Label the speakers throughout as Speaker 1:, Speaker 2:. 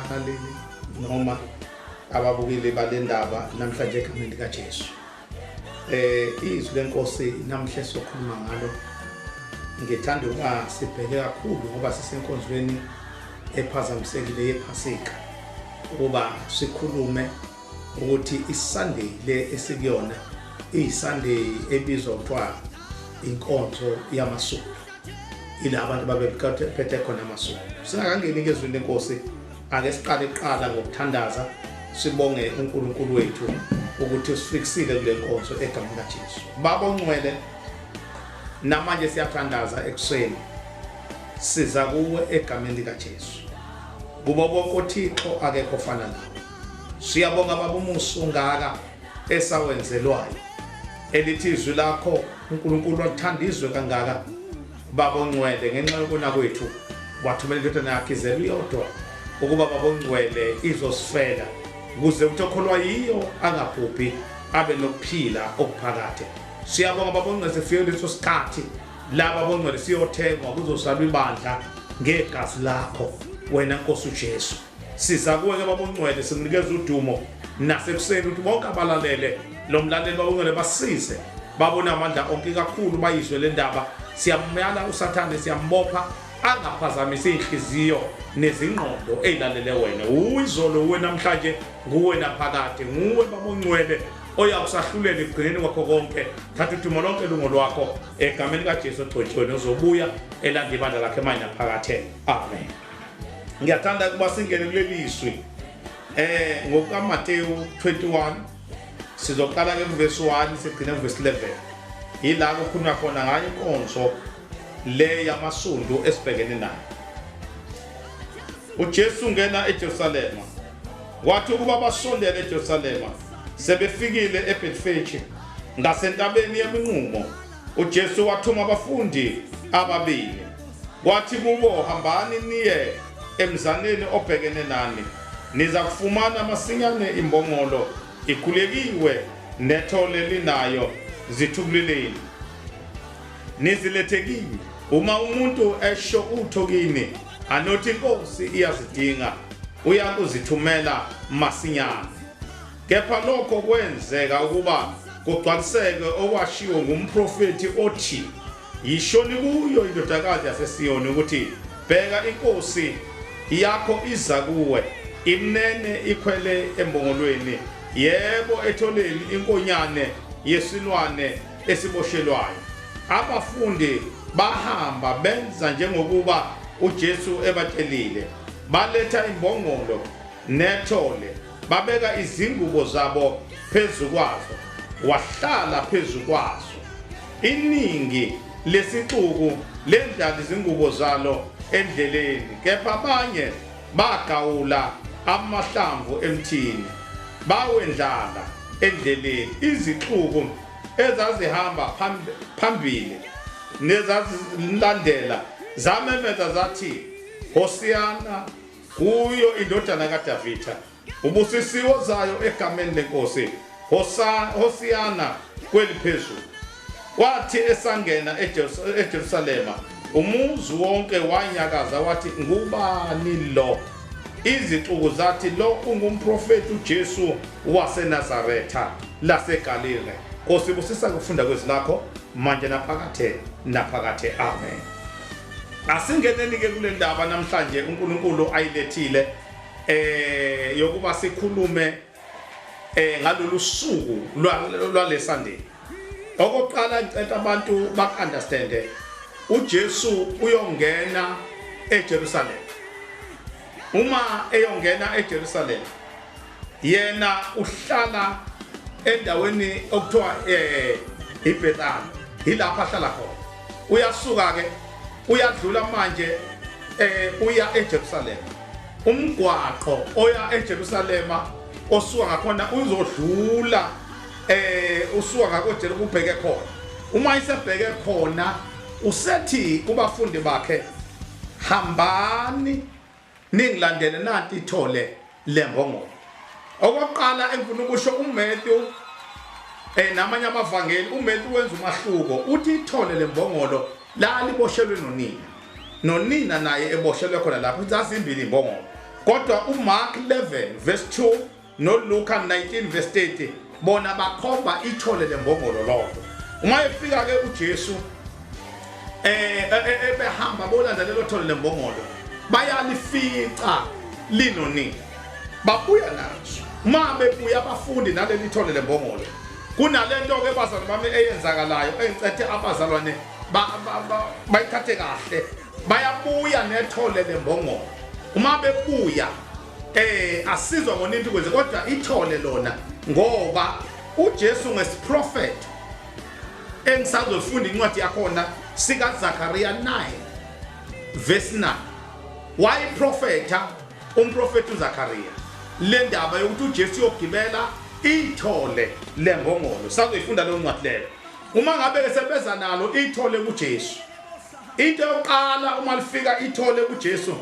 Speaker 1: abalaleli noma ababukeli bale ndaba namhlanje egameni likajesu um izwi lenkosi namhla esizokhuluma ngalo ngithanda ukuba sibheke kakhulu ngoba sisenkonzweni ephazamisekile yephasika ukuba sikhulume ukuthi isunday le esikuyona iyisunday ebizwa kuthiwa inkonzo yamasuku ila abantu babephethe khona amasuku singakangeni kezwini lenkosi ake siqale kuqala ngokuthandaza sibonge uNkulunkulu wethu ukuthi usifikisile kule nkonzo egameni likaJesu baba ongcwele namanje siyathandaza ekuseni siza kuwe egameni likaJesu kubo bonke uThixo akekho fana nawe siyabonga baba umuso ngaka esawenzelwayo elithi izwi lakho uNkulunkulu wathanda izwe kangaka babongcwele ngenxa yokona kwethu wathumela indodana yakhe izelwe iyodwa ukuba babongcwele izosifela ukuze uthi okholwa yiyo angabhubhi abe nokuphila okuphakade siyabonga babongcwele sifike leso sikhathi laba bongcwele siyothengwa kuzosalwa ibandla ngegazi lakho wena nkosi uJesu Siza kuwe ke baba uNcwele simnikeza udumo nasekuseni ukuthi bonke abalalele lo mlaleli baba uNcwele basize babone amandla onke kakhulu bayizwe le ndaba siyamyala usathane siyambopha angaphazamisa inhliziyo nezingqondo ezilalele wena uyizolo uwe namhlanje nguwe naphakade nguwe baboncwele oyakusahlulela ekugcineni kwakho konke thatha udumo lonke lungo lwakho egameni kaJesu ogcotshiwe nozobuya elanda ibandla lakhe manje naphakathe amen ngiyathanda ukuba singene kuleli zwi eh ngokukaMateyu 21 sizoqala ke kuvesi 1 sigcine kuvesi 11 yila kukhulunywa khona ngayo inkonzo le yamasundu esibhekene nayo uJesu ngena eJerusalema wathi ukuba basondele eJerusalema sebefikile eBethfage ngasentabeni yeminqumo uJesu wathuma abafundi ababili wathi kubo hambani niye emzaneni obhekene nani niza kufumana masinyane imbongolo ikhulekiwe nethole linayo zithubuleleni nizilethekile uma umuntu esho utho kini anothi inkosi iyazidinga uyakuzithumela masinyane Kepha lokho kwenzeka ukuba kugcwaliseke okwashiwo ngumprofethi othi yishoni kuyo indodakazi yaseSiyoni ukuthi bheka inkosi yakho iza kuwe imnene ikhwele embongolweni yebo etholeni inkonyane yesilwane esiboshelwayo abafundi bahamba benza njengokuba uJesu ebatshelile baletha imbongolo nethole babeka izingubo zabo phezu kwazo wahlala phezu kwazo iningi lesixuku lendlala izingubo zalo endleleni kepha abanye bagawula amahlamvu emthini bawendlala endleleni izixuku ezazihamba phambili nezazilandela zamemeza zathi hosiyana kuyo indodana kaDavida ubusisiwo zayo egameni lenkosi Hosiyana kweliphezulu wathi esangena eJerusalema umuzi wonke wanyakaza wathi ngubani lo izixuku zathi lo ungumprofeti uJesu waseNazaretha laseGalile Nkosi busisa kufunda kwezilakho manje naphakathe naphakathe amen asingeneni-ke kule ndaba namhlanje unkulunkulu ayilethile eh yokuba sikhulume eh ngalolu suku lwale Sunday okokuqala ngicela abantu bakunderstand uJesu uyongena eJerusalem uma eyongena eJerusalem yena uhlala endaweni okuthiwa eh iBethani ilapha ahlala khona uyasuka ke uyadlula manje eh uya eJerusalem umgwaqo oya eJerusalem osuka ngakhona uzodlula eh usuka ngakoJerusalem ubheke khona uma isebheke khona usethi kubafundi bakhe hambani Ningilandele nanti ithole lembongolo. Okokuqala engifuna ukusho uMatthew eh namanye amavangeli uMatthew wenza umahluko uthi ithole lembongolo la liboshelwe nonina. Nonina naye eboshelwe khona lapho uzazimbili imbongolo. Kodwa uMark 11 verse 2 NoLuka 19 verse 30 bona bakhomba ithole lembongolo lodwa. Uma efika ke uJesu eh, eh, eh ebehamba bolanda lelo thole lembongolo bayalifica linonini. Babuya nazo. Uma bebuya abafundi naleli thole lembongolo kunalento ke bazalwane bami eyenzakalayo engicethe abazalwane bayithathe kahle bayabuya nethole lembongolo uma bebuya eh asizwa ngonintu kwenze kodwa ithole lona ngoba uJesu ngesiprofet engisazofunda incwadi yakhona sika Zakaria 9 verse 9 why profeta umprofeti uZakaria le ndaba yokuthi uJesu uyogibela ithole lengongolo sazoyifunda leyo ncwadi leyo uma ngabe ke sebeza nalo ithole kuJesu into yokuqala uma lifika ithole kuJesu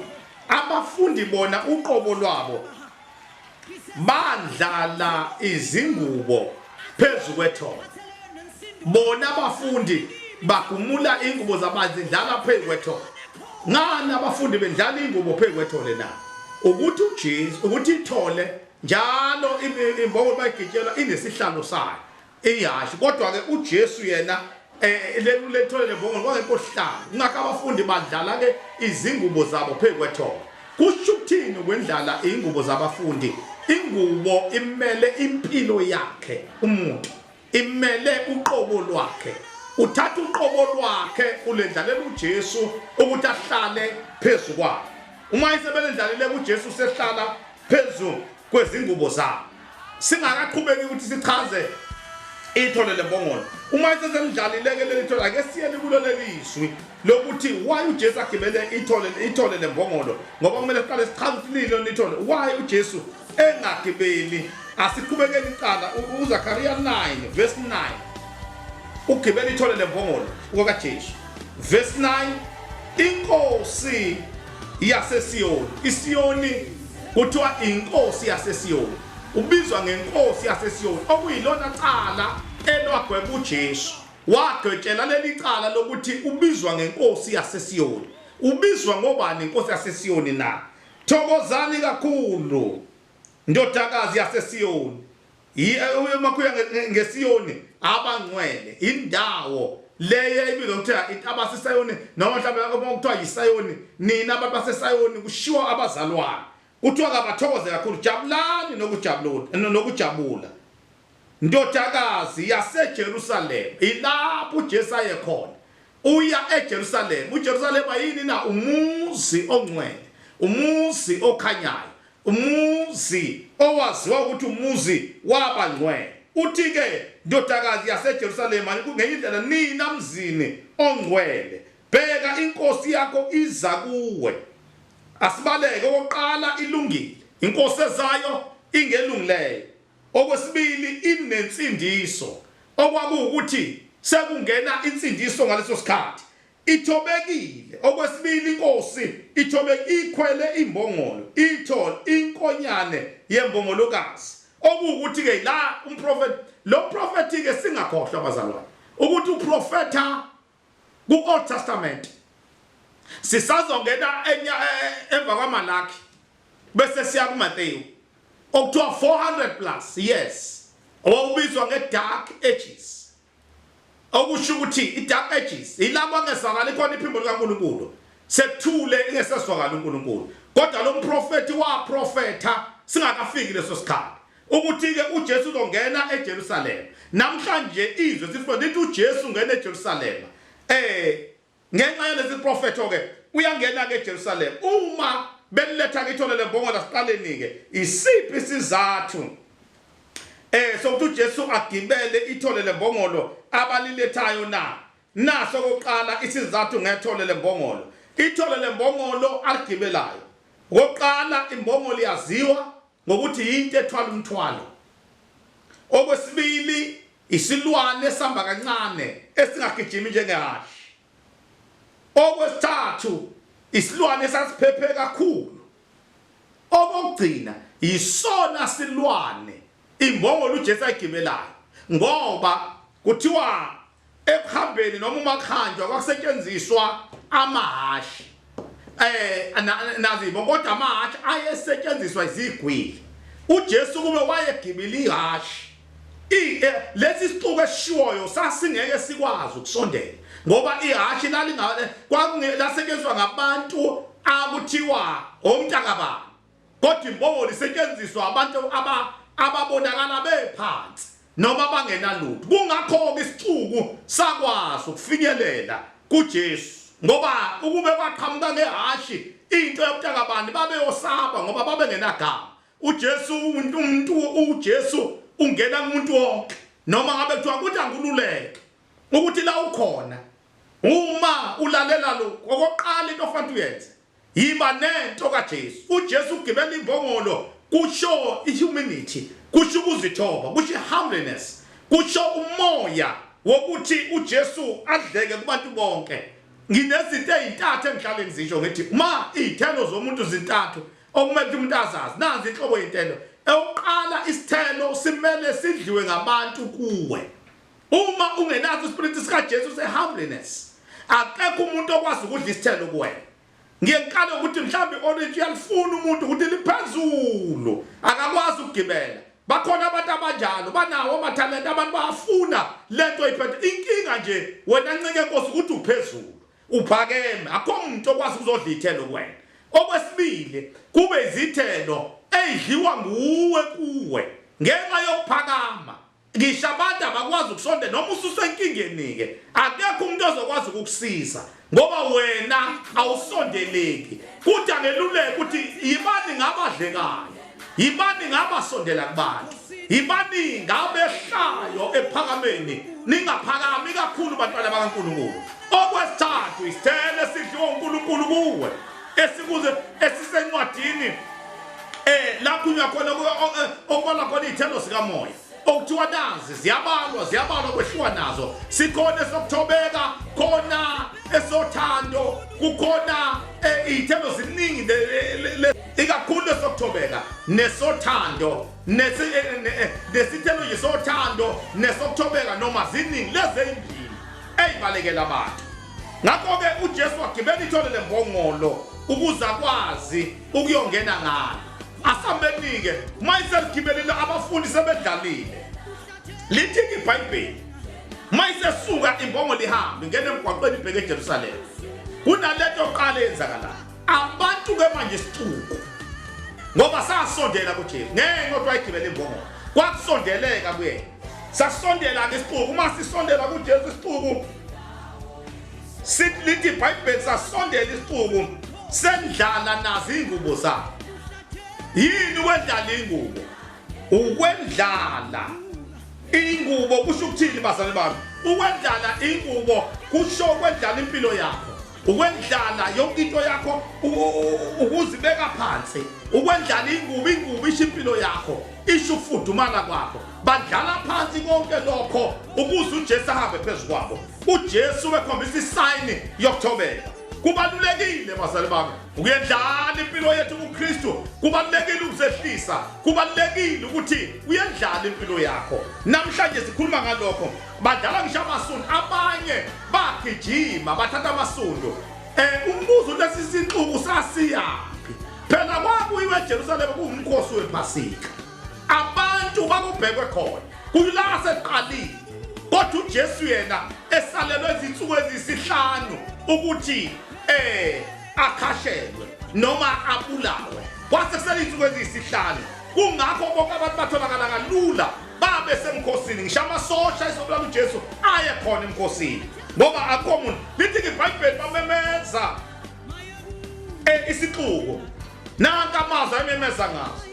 Speaker 1: Abafundi bona uqobo lwabo bandlala izingubo phezu kwethongo. Bona abafundi bagumula ingubo zabanzi ndlala phezu kwethole ngani abafundi bendlala ingubo phezu kwethole na ukuthi uJesu ukuthi ithole njalo imboko bayigitshelwa inesihlalo sayo Ihhashi. Kodwa-ke uJesu yena lelithole lembongolo kwakekosihlanu. Kungakho abafundi badlala-ke izingubo zabo phezu kwethongo. Kusho ukuthini ukwendlala iy'ngubo zabafundi? Ingubo imele impilo yakhe umuntu, imele uqobo lwakhe. Uthatha uqobo lwakhe ulendlalela uJesu ukuthi ahlale phezu kwakhe. Uma isebelendlalile kuJesu sehlala phezu kwezingubo zabo singakaqhubeki ukuthi sichaze ithole lembongolo uma sesemdlalileke leli thole ake siyele kulo lelizwi lokuthi why uJesu agibele ithole ithole lembongolo ngoba kumele siqale sichaze ukuthi lilo nithole why uJesu engagibeli asiqhubekeni iqala uZakariya 9 verse 9 ugibela ithole lembongolo kwakaJesu verse 9 inkosi yaseSiyoni. ISiyoni kuthiwa inkosi yaseSiyoni. Ubizwa ngenkosi yaseSiyoni okuyilona cala elwagweba uJesu. Wagqetshela leli cala lokuthi ubizwa ngenkosi yaseSiyoni. Ubizwa ngobani inkosi yaseSiyoni na? Thokozani kakhulu ndodakazi yaseSiyoni. Umakhuya ngesiyoni abangcwele indawo leyo ebizwa kuthiwa intaba sisayoni noma mhlawumbe okuthiwa yisayoni nina abantu basesayoni kushiwo abazalwane kuthiwa kabathokoze kakhulu jabulani nokujabula ndodakazi yasejerusalema ilapho ujesu aye khona uya ejerusalema ujerusalema yini na umuzi ongcwele umuzi okhanyayo Umuzi owaziwa ukuthi umuzi wabangcwele. Uthi-ke, Ndodakazi yaseJerusalema, ngenye indlela nina mzini ongcwele, bheka, inkosi yakho iza kuwe. Asibaleke, okokuqala ilungile, inkosi ezayo ingelungileyo. Okwesibili inensindiso, okwakuwukuthi sekungena insindiso ngaleso sikhathi. Ithobekile. Okwesibili, inkosi ithobekile ikhwele imbongolo, ithol, inkonyane yembongolokazi. Okuwukuthi-ke la umprofethi, lo mprofethi-ke singakhohlwa bazalwane, ukuthi uprofetha ku-Old Testament. Sisazongena enya e, e, emva kwaMalaki bese siya kuMateyu okuthiwa 400 plus years owawubizwa nge-dark ages Okusho ukuthi i-dark ages yilabo angezwakali khona iphimbo likaNkulunkulu, sekuthule ingesezwakali uNkulunkulu. Kodwa lo mprofethi waprofetha singakafiki leso sikhathi ukuthi-ke uJesu uzongena eJerusalema. Namhlanje izwe sifuna lithi uJesu ungena eJerusalema. Um. Ngenxa yalesiprofetho-ke uyangena-ke eJerusalema. Uma beniletha kithona lembongola siqaleni-ke? Isiphi isizathu eh sokuthi uJesu agibele ithole lembongolo abalilethayo na? Naso okokuqala isizathu ngethole lembongolo. Ithole lembongolo aligibelayo. Okokuqala imbongolo iyaziwa ngokuthi yinto ethwala umthwalo. Okwesibili, isilwane esihamba kancane esingagijimi njengehhashi. Okwesithathu, isilwane esasiphephe kakhulu. Okokugcina, yisona silwane imbongolo uJesu ayigibelayo ngoba kuthiwa ekuhambeni noma uma kuhanjwa kwakusetshenziswa amahhashi eh nazibo kodwa amahhashi ayesetshenziswa izigwili uJesu kube wayegibila ihhashi eh, lesi sixuku esishiwoyo sasingeke sikwazi ukusondela ngoba ihhashi lalingale kwakungelasebenziswa ngabantu akuthiwa omntaka baba Kodwa imbokodo isetshenziswa abantu aba, ababonakala bephansi noma abangenalutho. Kungakho-ke isixuku sakwazi ukufinyelela kuJesu, ngoba ukube kwaqhamuka ngehhashi into yobuthaka bani babeyosaba ngoba babengenagama. UJesu, umuntu, uJesu ungena kumuntu wonke, noma ngabe kuthiwa kuthi angululeke ukuthi la ukhona. Uma ulalela lokhu, okokuqala into ofanele uyenze Yiba nento kaJesu. UJesu ugibela imbongolo kusho ihumanity, kusho ukuzithoba, kusho ihumbliness, kusho umoya wokuthi uJesu adleke kubantu bonke. Nginezinto ezintathu engihlale ngizisho ngithi uma izithelo zomuntu zintathu okumele ukuthi umuntu azazi. Nazi inhlobo yezithelo. Eyokuqala isithelo simele sidliwe ngabantu kuwe. Uma ungenaso iSpirit sika Jesu se humbleness, akekho umuntu okwazi ukudla isithelo kuwena. Ngiye ngiqale ukuthi mhlawumbe orange uyalifuna umuntu ukuthi liphezulu, akakwazi ukugibela. Bakhona abantu abanjalo, banawo amathalente, abantu bayafuna lento oyiphethe. Inkinga nje wena ncike Nkosi ukuthi uphezulu, uphakeme, akho muntu okwazi ukuzodla ithelo kuwena. Okwesibili, kube izithelo ezidliwa nguwe kuwe ngenxa yokuphakama Ngisho abantu abakwazi ukusonde noma ususenkingeni-ke akekho umuntu ozokwazi ukukusiza ngoba wena awusondeleki kuthi angeluleke ukuthi yibani ngabadlekayo yibani ngabasondela kubantu yibani ngabehlayo ephakameni ningaphakami kakhulu bantwana bakankulunkulu okwesithathu isithelo esidliwa unkulunkulu kuwe esikuze esisencwadini eh lakhulunywa khona eh, okubala khona iy'thelo sikamoya okuthiwa nazi ziyabalwa ziyabalwa kwehliwa nazo sikhona esokuthobeka khona esothando kukhona eh, iy'thelo ziningi ikakhulu esokuthobeka nesothando eh, nesithelo nje sothando nesokuthobeka noma ziningi lezi eyimbili eyibalekela abantu ngakho-ke ujesu wagibela ithole le mbongolo ukuze akwazi ukuyongena ngalo asambeni-ke uma iseligibelile abafundi sebedlalile lithi-ke ibhayibheli uma isesuka imbongolo ihambe ngena emgwaqweni ibheke ejerusalema kunale nto yokuqala eyenzakalayo abantu-ke manje isixuku ngoba sasondela kujesu ngenxa yokuthi wayigibela imbongolo kwakusondeleka kuyena sasondela-ke isixuku uma sisondela kujesu isixuku sithi lithi ibhayibheli sasondela isixuku sendlala nazo iy'ngubo zakhe yini ukwendlala iy'ngubo ukwendlala iy'ngubo kusho ukuthini bazali bami ukwendlala iy'ngubo kusho ukwendlala impilo yakho ukwendlala yonke into yakho ukuzibeka phansi ukwendlala ingubo ingubo isho impilo yakho isho ukufudumala kwakho badlala phansi konke lokho ukuze ujesu ahambe phezu kwabo ujesu ubekhombisa isayini yokuthobeka kubalulekile bazali bami uyendlala impilo yethu kukristu kubalulekile ukuzehlisa kubalulekile ukuthi uyendlala impilo yakho namhlanje sikhuluma ngalokho badlala ngisho amasundu abanye bagijima bathatha amasundu um umbuzo lesi sinxuku sasiyaphi phela kwakuyiwe ejerusalema kuwumkhosi wephasika abantu kwakubhekwe khona kuyila aseqalile kodwa ujesu yena esalelwe izinsuku eziyisihlanu ukuthi um akhashelwe noma abulawe kwase kusele iy'nsuku eziyisihlanu kungakho bonke abantu batholakala kalula babe semkhosini ngisho amasosha isobulala ujesu aye khona emkhosini ngoba akho muntu lithi-ke ibhayibheli bamemeza um isixuko nanka amazwi ayememeza ngazo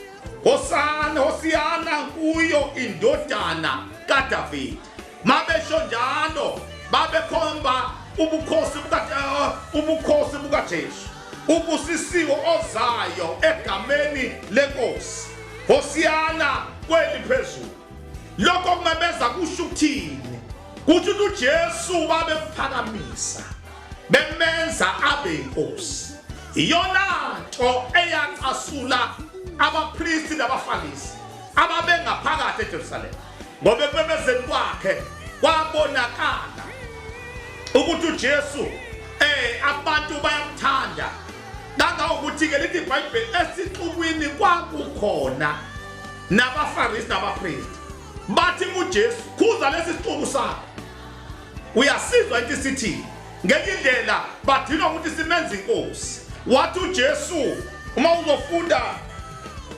Speaker 1: hosana hosiyana kuyo indodana kadavide mabesho njalo babekhomba ubukhosi buka uh, ubukhosi bukaJesu ubusisiwe ozayo egameni lenkosi hosiyana kweli phezulu lokho kumemeza kusho ukuthini kuthi uJesu babemphakamisisa bemenza abe inkosi iyona nto eyacasula abapristi nabaFarisi ababengaphakathi eJerusalema ngoba ekubemezeni kwakhe kwabonakala ukuthi uJesu eh abantu bayamthanda kangangokuthi ke lithi iBhayibheli esixukwini kwakukhona nabaFarisi nabapristi bathi kuJesu khuza lesi sixuku sakho uyasizwa into isithini ngenye indlela badinwa ukuthi simenze inkosi wathi uJesu uma uzofunda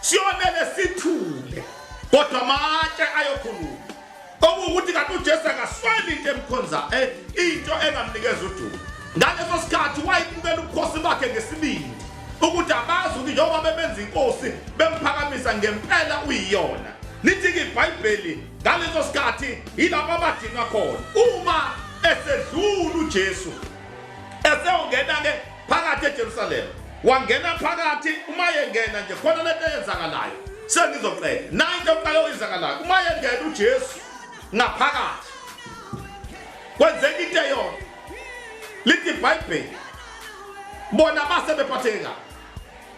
Speaker 1: siyomele sithule kodwa amatshe ayokhuluma okuwukuthi kanti ujesu akasweli into emkhonza eh, into engamnikeza udumo ngaleso sikhathi wayibukela ubukhosi bakhe ngesibindi ukuthi abazi ukuthi njengoba bebenza inkosi bemphakamisa ngempela uyiyona lithi-ke ibhayibheli ngaleso sikhathi yilabo abadinwa khona uma esedlula ujesu eseyongena-ke phakathi eJerusalema wangena phakathi uma yengena nje khona lento eyenzakalayo sengizoqeda nayi into yokuqala oyenzakalayo uma yengena uJesu ngaphakathi kwenzeka into eyona lithi ibhayibheli bona base bephatheke kabi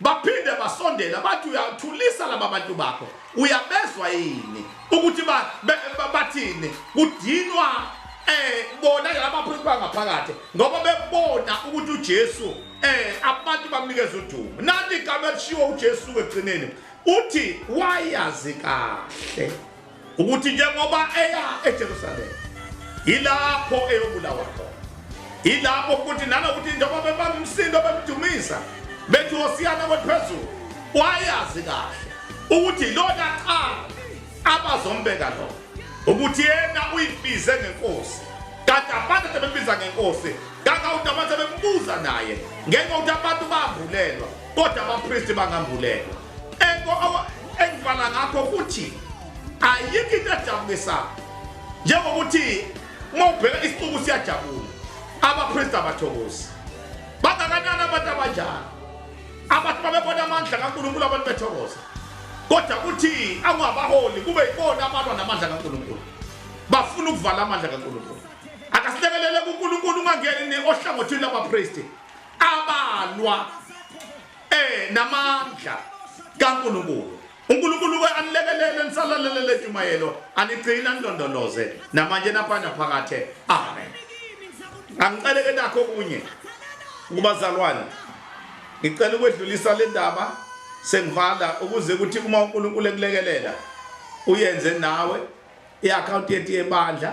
Speaker 1: Baphinde basondela bathi, Uyathulisa laba bantu bakho, uyabezwa yini ukuthi ba- be- ba- bathini? Kudinwa eh bona laba bantu bangaphakathi ngoba bebona ukuthi uJesu eh abantu bamnikeza udumo. Nanti igama elishiwo uJesu ekugcineni uthi wayazi kahle. ukuthi njengoba eya eJerusalema yilapho eyobulawa khona yilapho futhi nanokuthi njengoba bebamsindo bemdumisa bethi wosiyana kwephezulu wayazi kahle ukuthi lona cha abazombeka lo ukuthi yena uyibize ngenkosi kanti abantu abebiza ngenkosi kangawuthi abantu abebuza naye ngenxa ukuthi abantu bavulelwa kodwa abapristi bangambulelwa Engivala ngakho futhi ayikho into ejabulisayo njengokuthi uma ubheka isixuku siyajabula abapristi abathokozi bangakanani abantu abanjalo abantu babebona amandla kankulunkulu abantu bethokoza kodwa kuthi angabaholi kube yibona abalwa namandla kankulunkulu bafuna ukuvala amandla kankulunkulu akasilekelele kunkulunkulu ungangeni ohlangothini labapristi abalwa Eh namandla kaNkulunkulu. uNkulunkulu ke anilekelele nisalalele lentshumayelo anigcina nilondoloze namanje naphanda phakathe. Amen. Angicele ke nakho kunye kubazalwane. Ngicela ukwedlulisa le ndaba sengivala ukuze ukuthi uma uNkulunkulu ekulekelela uyenze nawe iaccount yethu yebandla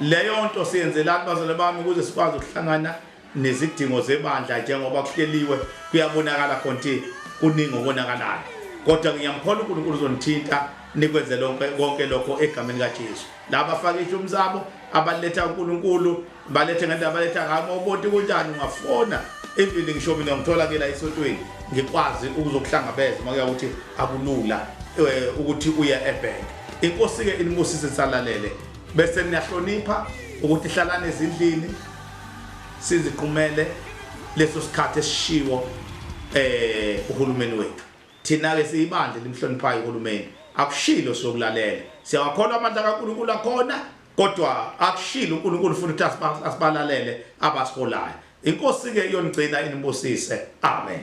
Speaker 1: Leyo nto siyenzelani bazalwane bami ukuze sikwazi ukuhlangana nezidingo zebandla njengoba kuhleliwe kuyabonakala khona ukuthi kuningi okonakalayo kodwa ngiyamkhola uNkulunkulu uzonithinta nikwenze lonke konke lokho egameni likaJesu laba faka ishumu sabo abaletha uNkulunkulu balethe ngendaba baletha ngami obonti kunjani ungafona even ngisho mina ngithola ke la esontweni ngikwazi ukuzokuhlangabeza uma kuya ukuthi akulula eh, ukuthi uye ebhenki inkosi ke inibusise salalele bese niyahlonipha ukuthi hlalane ezindlini siziqumele leso sikhathi esishiwo eh uhulumeni wethu thina ke siyibandla limhloniphayo uhulumeni akushilo sokulalela siyawakholwa amandla kaNkuluNkulu akhona kodwa akushilo uNkulunkulu futhi ukuthi asibalalele abasiholayo inkosi ke iyonigcina inibusise amen